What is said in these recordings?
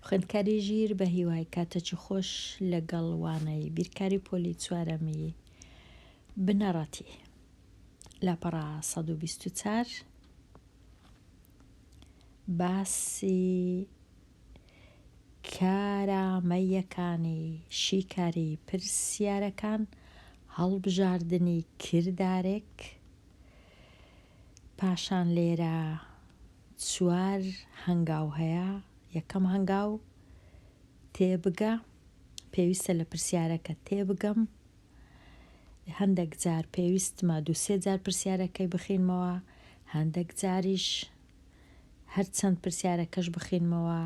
خوێندکاری ژیر بە هیوای کاتەچی خۆش لەگەڵ وانەی بیرکاری پۆلی چوارەمی بنەڕەتی لاپەڕا 124 باسی کارامەیەکانی شیکاری پرسیارەکان هەڵبژاردنی کردارێک پاشان لێرە چوار هەنگاو هەیە، یەکەم هەنگاو تێبگە، پێویستە لە پرسیارەکە تێبگەم، هەندێک جار پێویستمە دوو سێ جار پرسیارەکەی بخینمەوە، هەندێک جاریش هەرچەند پرسیارەکەش بخینمەوە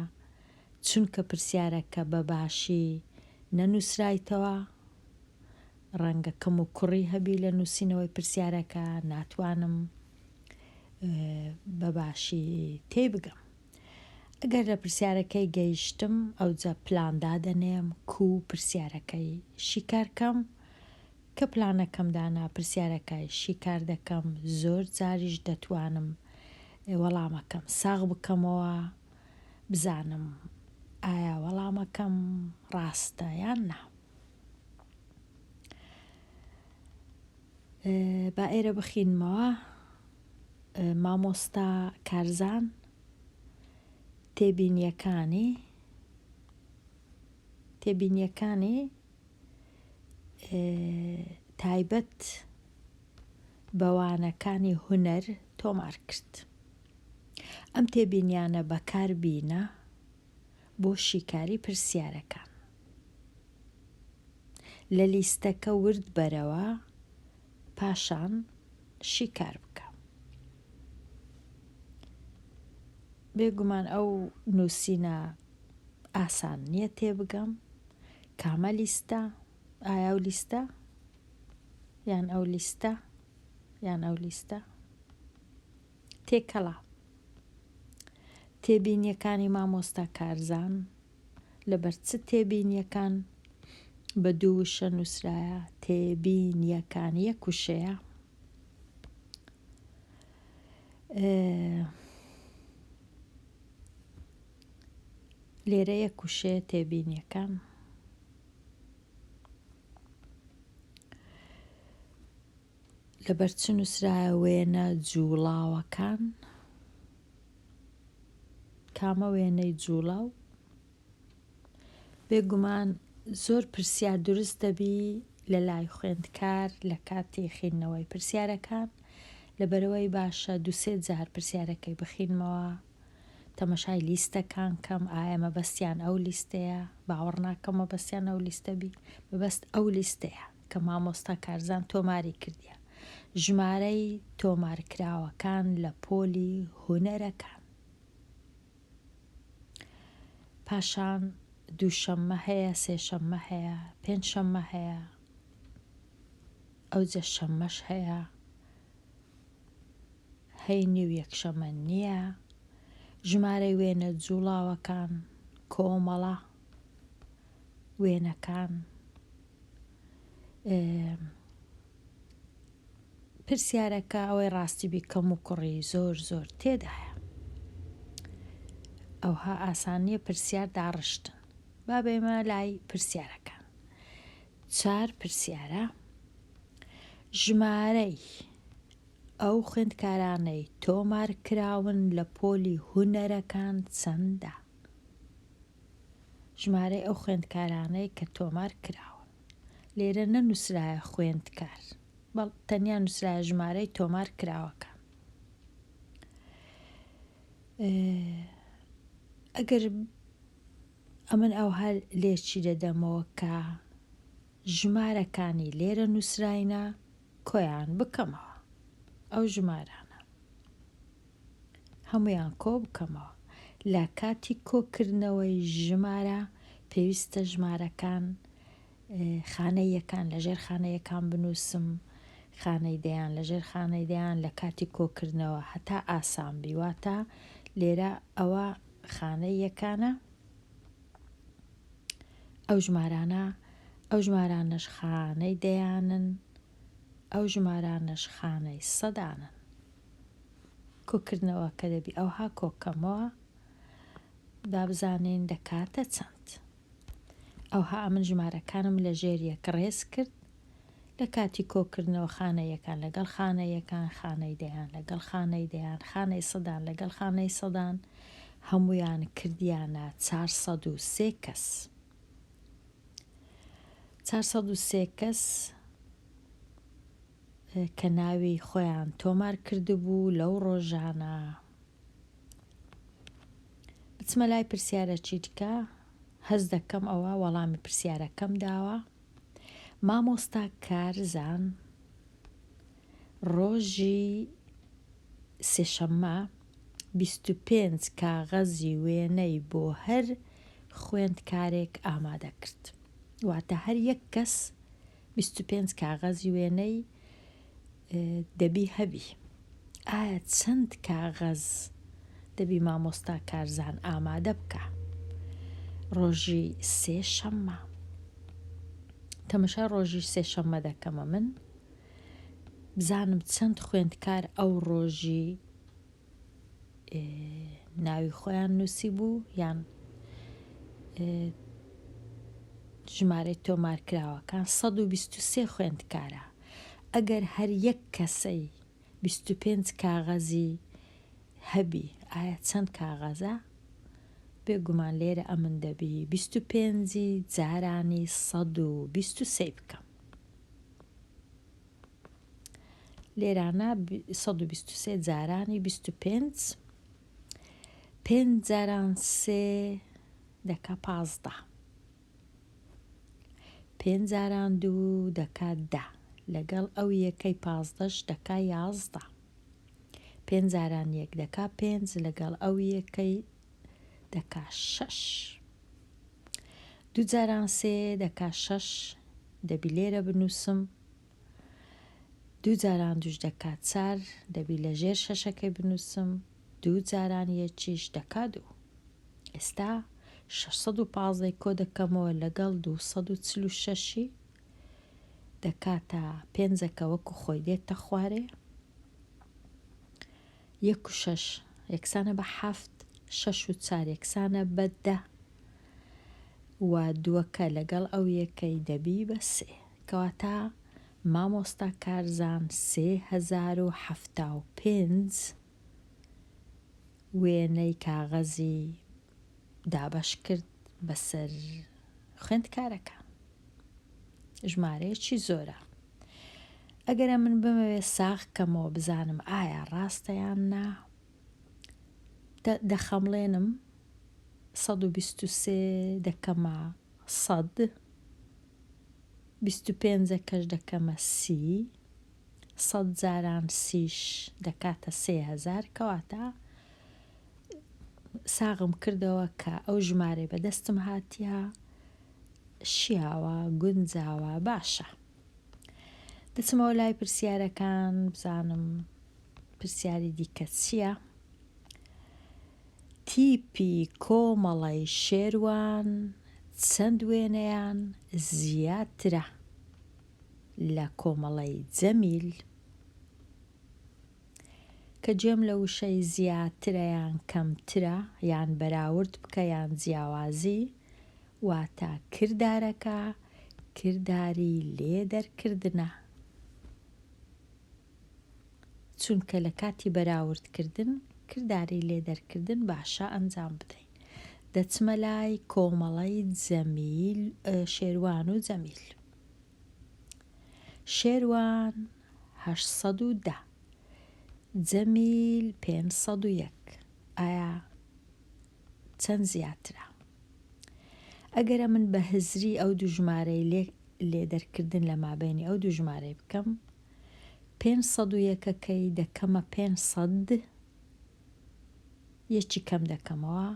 چونکە پرسیارەکە بە باشی نەنووسرایتەوە، ڕەنگە کەم و کوڕی هەبی لە نووسینەوەی پرسیارەکە ناتوانم بەباشی تێی بگەم ئەگەر لە پرسیارەکەی گەیشتم ئەوجە پلان دادەنێم کو پرسیارەکەی شیکارکەم کە پلانەکەم دانا پرسیارەکەی شیکار دەکەم زۆر جاریش دەتوانم وەڵامەکەم ساغ بکەمەوە بزانم ئایا وەڵامەکەم ڕاستە یان نا. با ئێرە بخینمەوە مامۆستا کارزان تێبینیەکانی تێبینیەکانی تایبەت بەوانەکانی هونەر تۆمار کرد ئەم تێبینیانە بەکار بینە بۆ شیکاری پرسیارەکان. لە لیستەکە ورد بەرەوە پاشان شیکار بکە. بێگومان ئەو نووسینە ئاسان نییە تێبگەم کامە لیستە ئایا و لیستە یان ئەو لیستە یان ئەو لیستە تێکەڵە تێبینیەکانی مامۆستا کارزان لەبەر چ تێبینیەکان بە دوو وشە نووسرایە تێبینیەکان یەک وشەیە لێرە یەک وشەیە تێبینیەکان لەبەر چ نووسرایە وێنە جووڵاوەکان؟ کامە وێنەی جووڵاو؟ بێگومان زۆر پرسیار دروست دەبی لە لای خوێندکار لە کاتی خینەوەی پرسیارەکان لەبەرەوەی باشە دوسێ جار پرسیارەکەی بخینمەوە تەمەشای لیستەکان کەم ئایا مەبەستیان ئەو لیستەیە باوەڕ ناکەم مەبەستیان ئەو لیستە بی مەبەست ئەو لیستەیە کە مامۆستا کارزان تۆماری کردیە ژمارەی تۆمارکراوەکان لە پۆلی هونەرەکان پاشان دووشەممە هەیە سێشەممە هەیە پێنج شەممە هەیە ئەوجە شەممەش هەیە هەینی و یەکشەمە نییە ژمارەی وێنە جوڵاوەکان کۆمەڵە وێنەکان پرسیارەکە ئەوەی ڕاستی بی کەم و کوڕی زۆر زۆر تێدایە ئەوها ئاسانیە پرسیار داڕشتن با بێمە لای پرسیارەکان چار پرسیارە ژمارەی ئەو خوێندکارانەی تۆمار کراون لە پۆلی هوەرەکان چەندە ژمارەی ئەو خوێندکارانەی کە تۆمار کراون. لێرە نەنووسرایە خوێندکار، بەڵ تەنیا نووسرایە ژمارەی تۆمار کراوەکان. ئەگەر ئەمن ئەوها لێچی دەدەمەوە کە ژمارەکانی لێرە نووسراینە کۆیان بکەمەوە ئەو ژمارانە هەموویان کۆ بکەمەوە. لە کاتی کۆکردنەوەی ژمارە پێویستە ژمارەکان خانەی یەکان لە ژێر خانە یەکان بنووسم خانەی دەیان لە ژێر خانەی دەیان لە کاتی کۆکردنەوە هەتا ئاسان بیواتە لێرە ئەوە خانەی یەکانە ئەو ژمارانە ئەو ژمارانەش خانەی دەیانن ئەو ژمارانەش خانەی سەدانن کۆکردنەوە کە دەبی ئەوها کۆکەمەوە دابزانین دەکاتە چەند ئەوها ئەمن ژمارەکانم لە ژێر یەک ڕێز کرد لە کاتی کۆکردنەوە خانە یەکان لەگەڵ خانە یەکان خانەی دەیان لەگەڵ خانەی دەیان خانەی سەدان لەگەڵ خانەی سەدان هەمویان کردیانە چار سەد و سێ کەس چوار سەد و سێ کەس کە ناوی خۆیان تۆمار کردبوو لەو ڕۆژانە بچمە لای پرسیارە چیتکە هەز دەکەم ئەوە وەڵامی پرسیارەکەم داوە مامۆستا کارزان ڕۆژی سێشەممە بیست و پێنج کاغەزی وێنەی بۆ هەر خوێندکارێک ئامادە کرد. واتە هەر یەک کەس بیست و پێنج کاغەزی وێنەی دەبی هەبی. ئایا چەند کاغەز دەبی مامۆستا کارزان ئامادە بکە؟ ڕۆژی سێ شەممە. تەمەشای ڕۆژی سێ شەممە دەکەمە من بزانم چەند خوێندکار ئەو ڕۆژی ناوی خۆیان نووسی بوو یان ژمارەی تۆمارکراوەکان 123 خوێندکارە ئەگەر هەر یەک کەسەی 25 کاغەزی هەبی ئایا چەند کاغەزە بێگومان لێرە ئەمن دەبی 25 جارانی 123 بکەم لێرانە سەد و بیست و سێ جارانی بیست و پێنج پێنج جاران سێ دەکا پازدە پێنج جاران دوو دەکا دە لەگەڵ ئەو یەکەی پازدەش دەکا یازدە پێنج جاران یەک دەکا پێنج لەگەڵ ئەو یەکەی دەکا شەش دوو جاران سێ دەکا شەش دەبی لێرە بنووسم دوو جاران دوش دەکا چار دەبی لە ژێر شەشەکەی بنووسم دوو جاران یەکیش دەکا دوو ئێستا 615 کۆ دەکەمەوە لەگەڵ 246ی دەکاتە پێنجەکە وەکو خۆی دێتە خوارێ یەک و شەش یەکسانە بە حەفت، شەش و چار یەکسانە بە دە و دووەکە لەگەڵ ئەو یەکەی دەبی بە سێ. کەواتە مامۆستا کارزان سێ هەزار و حەفتا و پێنج وێنەی کاغەزی دابەش کرد بەسەر خوێندکارەکان ژمارەیەکی زۆرە ئەگەرە من بمەوێ ساغ کەمەوە بزانم ئایا ڕاستەیان نا دەخەمڵێنم 123 دەکەمە سەد 25 کەش دەکەمە سی سەد جاران سیش دەکاتە سێ هەزار کەواتە ساغم کردەوە کە ئەو ژمارەی بەدەستم هاتیە شیاوە گونجاوە باشە دەچمەوە لای پرسیارەکان بزانم پرسیاری دیکە چییە؟ تیپی کۆمەڵی شێروان چەند وێنەیان زیاترە؟ لە کۆمەڵەی جەمیل کە جێم لە وشەی زیاترە یان کەمترە یان بەراورد بکە یان جیاوازی واتە کردارەکە کرداری لێ دەرکردنە چونکە لە کاتی بەراوردکردن کرداری لێ دەرکردن باشە ئەنجام بدەین دەچمە لای کۆمەڵەی جەمیل شێروان و جەمیل شێروان هەشت سەد و دە جەمیل پێنج سەد و یەک ئایا چەند زیاترە ئەگەرە من بە هزری ئەو دوژمارەی لێ لێدەرکردن لە مابینی ئەو دوژمارەی بکەم پێنج سەد و یەکەکەی دەکەمە پێنج سەد یەکی کەم دەکەمەوە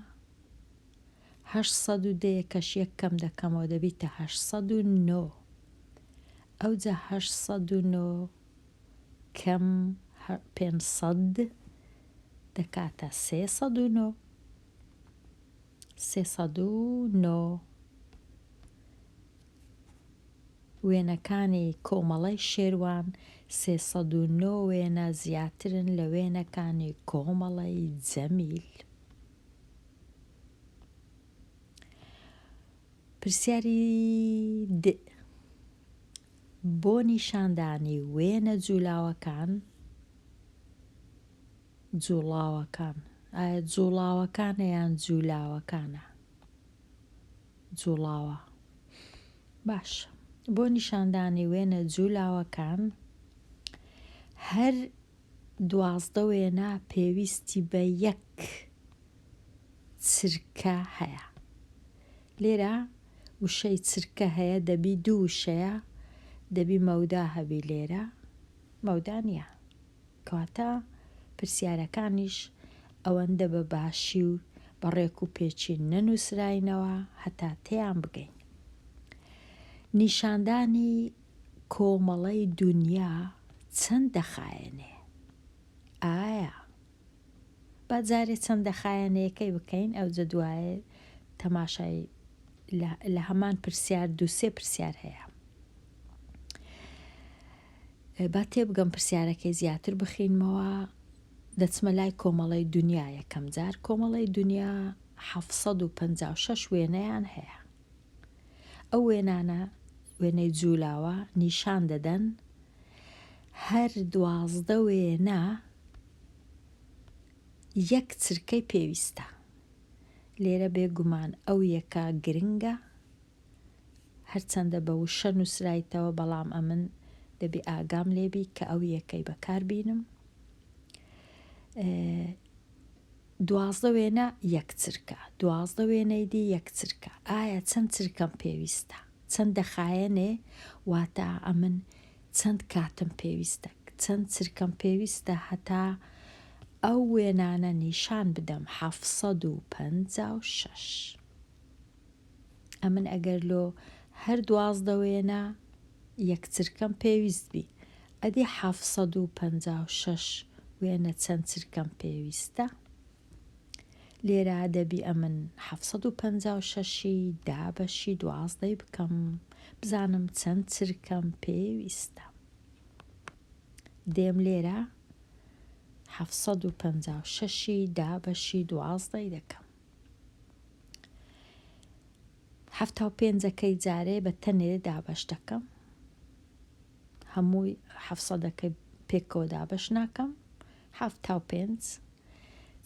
هەشت سەد و دە یەکەش یەک کەم دەکەمەوە دەبیتە هەشت سەد و نۆ ئەوجا هەشت سەد و نۆ کەم پێنج سەد دەکاتە سێ سەد و نۆ سێ سەد و نۆ وێنەکانی کۆمەڵەی شێروان سێ سەد و نۆ وێنە زیاترن لە وێنەکانی کۆمەڵەی جەمیل پرسیاری د بۆ نیشاندانی وێنە جوولاوەکان جوڵاوەکان ئایا جوڵاوەکانە یان جوولاوەکانە جوڵاوە باش بۆ نیشاندانی وێنە جوولاوەکان هەر دوازدە وێنە پێویستی بە یەک چرکە هەیە. لێرە وشەی چرکە هەیە دەبی دوو وشەیە دەبی مەودا هەبی لێرە مەودا نییە کەواتە پرسیارەکانیش ئەوەندە بە باشی و بە ڕێک و پێچی نەنووسراینەوە هەتا تێیان بگەین. نیشاندانی کۆمەڵەی دونیا چەند دەخایەنێ؟ ئایا. با جارێ چەند دەخایەنێیەکەی بکەین ئەوجە دوایێ تەماشای لە هەمان پرسیار دوو سێ پرسیار هەیە. با تێبگەم پرسیارەکەی زیاتر بخینمەوە دەچمە لای کۆمەڵی دنیا یەکەم جار کۆمەڵی دنیا 1956 وێنەیان هەیە ئەو وێنانە وێنەی جوولاوە نیشان دەدەن هەر دوازدە وێنە یەک چرکەی پێویستە لێرە بێگومان ئەو یەکە گرنگە هەرچەندە بە وشە نووسرایتەوە بەڵام ئەمن دەبێ ئاگام لێبی کە ئەو یەکەی بەکار بینم دوازدە وێنە یەک چرکە. دوازدە وێنەی دی یەک چرکە. ئایا چەند چرکەم پێویستە؟ چەند دەخایەنێ واتا ئەمن چەند کاتم پێویستە؟ چەند چرکەم پێویستە هەتا ئەو وێنانە نیشان بدەم حەفت سەد و پەنجا و شەش. ئەمن ئەگەر لۆ هەر دوازدە وێنە یەک چرکەم پێویست بی ئەدی حەفت سەد و پەنجا و شەش وێنە چەند چرکەم پێویستە؟ لێرە دەبی ئەمن حەفت سەد و پەنجا و شەش ی دە بەشی دوازدەی بکەم بزانم چەند چرکەم پێویستە. دێم لێرە حەفت سەد و پەنجا و شەش ی دە بەشی دوازدەی دەکەم. حەفتا و پێنجەکەی جارێ بە تەنێ دابەش دەکەم. هەمووی حەفت سەدەکەی پێکەوە دابەش ناکەم حەفتا و پێنج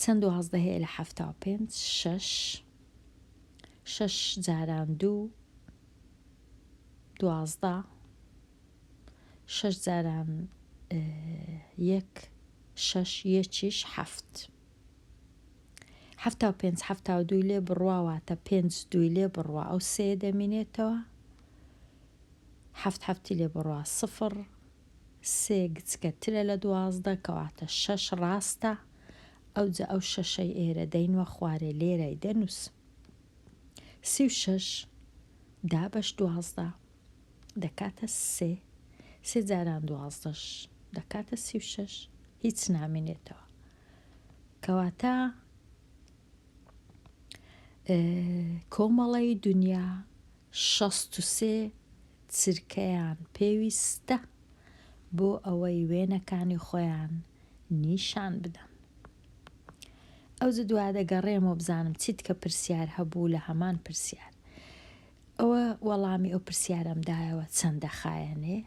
چەند دوازدە هەیە لە حەفتا و پێنج شەش شەش جاران دوو دوازدە شەش جاران یەک شەش یەکیش حەفت حەفتا و پێنج حەفتا و دووی لێ بڕواواتە پێنج دووی لێ بڕوا ئەو سێ دەمینێتەوە هەفت هەفتی لێ بڕە سفڕ سێ گچکەترە لە دوازدە کەواتە شەش ڕاستە ئەوجە ئەو شەشەی ئێرە دەینوە خوارێ لێرای دەنووس سی و شەش دا بەش دوازدە دەکاتە سێ سێ جاران دوازدەش دەکاتە سی و شەش هیچ نامێنێتەوە کەواتە کۆمەڵی دنیا شەست و سێ چرکەیان پێویستە بۆ ئەوەی وێنەکانی خۆیان نیشان بدەن. ئەوجە دوا دەگەڕێمەوە بزانم چیت کە پرسیار هەبوو لە هەمان پرسیار. ئەوە وەڵامی ئەو پرسیارەم دایەوە چەند دەخایەنێ؟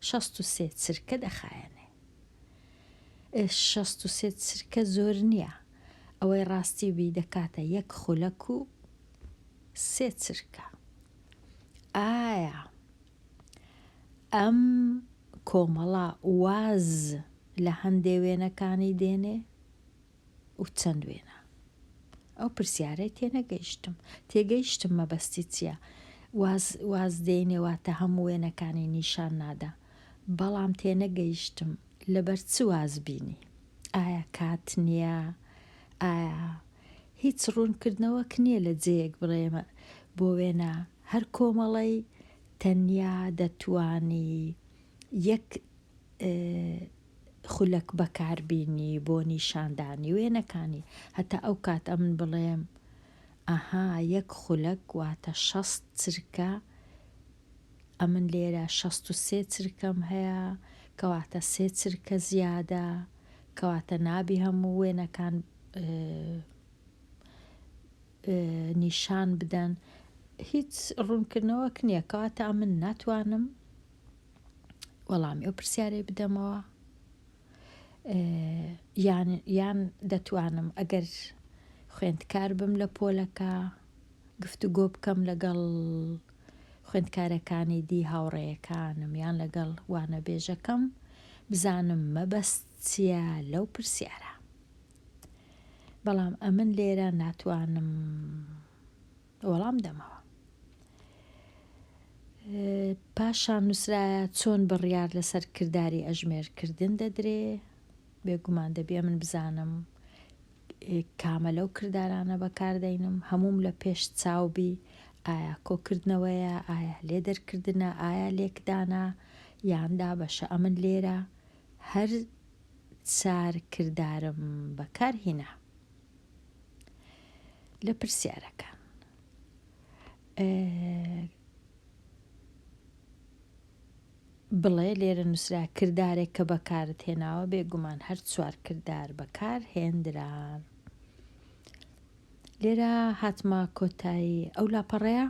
شەست و سێ چرکە دەخایەنێ. ئێ شەست و سێ چرکە زۆر نییە. ئەوەی ڕاستی بی دەکاتە یەک خولەک و سێ چرکە. ئایا ئەم کۆمەڵە واز لە هەندێ وێنەکانی دێنێ و چەند وێنە؟ ئەو پرسیارەی تێنەگەیشتم تێگەیشتم مەبەستی چییە؟ واز واز دێنێ واتە هەموو وێنەکانی نیشان نادا بەڵام تێنەگەیشتم لەبەر چ واز بینی؟ ئایا کات نییە؟ ئایا هیچ ڕوونکردنەوەک نیە لە جێیەک بڕێمە بۆ وێنە هەر کۆمەڵەی تەنیا دەتوانی یەک خولەک بەکار بینی بۆ نیشاندانی وێنەکانی هەتا ئەو کات ئەمن بڵێم ئەها یەک خولەک واتە شەست چرکە ئەمن لێرە شەست و سێ چرکەم هەیە کەواتە سێ چرکە زیادە کەواتە نابی هەموو وێنەکان نیشان بدەن هیچ ڕوونکردنەوەک نییە کەواتە من ناتوانم وەڵامی ئەو پرسیارەی بدەمەوە یان یان دەتوانم ئەگەر خوێندکار بم لە پۆلەکە گفتوگۆ بکەم لەگەڵ خوێندکارەکانی دی هاوڕێیەکانم یان لەگەڵ وانەبێژەکەم بزانم مەبەست چیە لەو پرسیارە بەڵام ئەمن لێرە ناتوانم وەڵام دەمەوە پاشان نووسرایە چۆن بڕیار لەسەر کردداری ئەژمێرکردن دەدرێ بێگومان دەبێ من بزانم کامە لەو کردارانە بەکاردەینم هەمووم لە پێش چاو بی، ئایا کۆکردنەوەیە، ئایا لێدەرکردنە، ئایا لێکدانە یان دابەشە، ئەمن لێرە هەر چار کردارم بەکار هینا. لە پرسیارەکان. بڵێ، لێرە نووسرا کردارێک کە بەکارت هێناوە، بێگومان هەر چوار کردار بەکار هێندران. لێرە هاتمە کۆتایی ئەو لاپەڕەیە،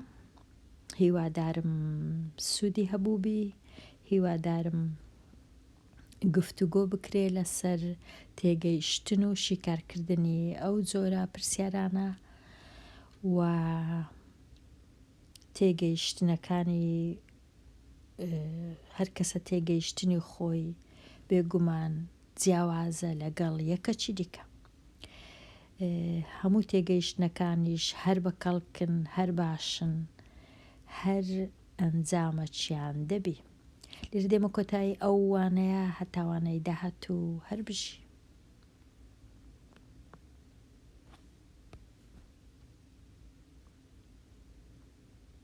هیوادارم سوودی هەبووبی، هیوادارم گفتوگۆ بکرێ لەسەر تێگەیشتن و شیکارکردنی ئەو جۆرە پرسیارانە و تێگەیشتنەکانی هەر کەسە تێگەیشتنی خۆی بێ گومان جیاوازە لەگەڵ یەکەچی دیکە. هەموو تێگەیشتنەکانیش هەر بە کەڵکن، هەر باشن، هەر ئەنجامەچیان دەبی. لێرە دێمە کۆتایی ئەو وانەیە هەتا وانەی داهاتوو هەر بژی.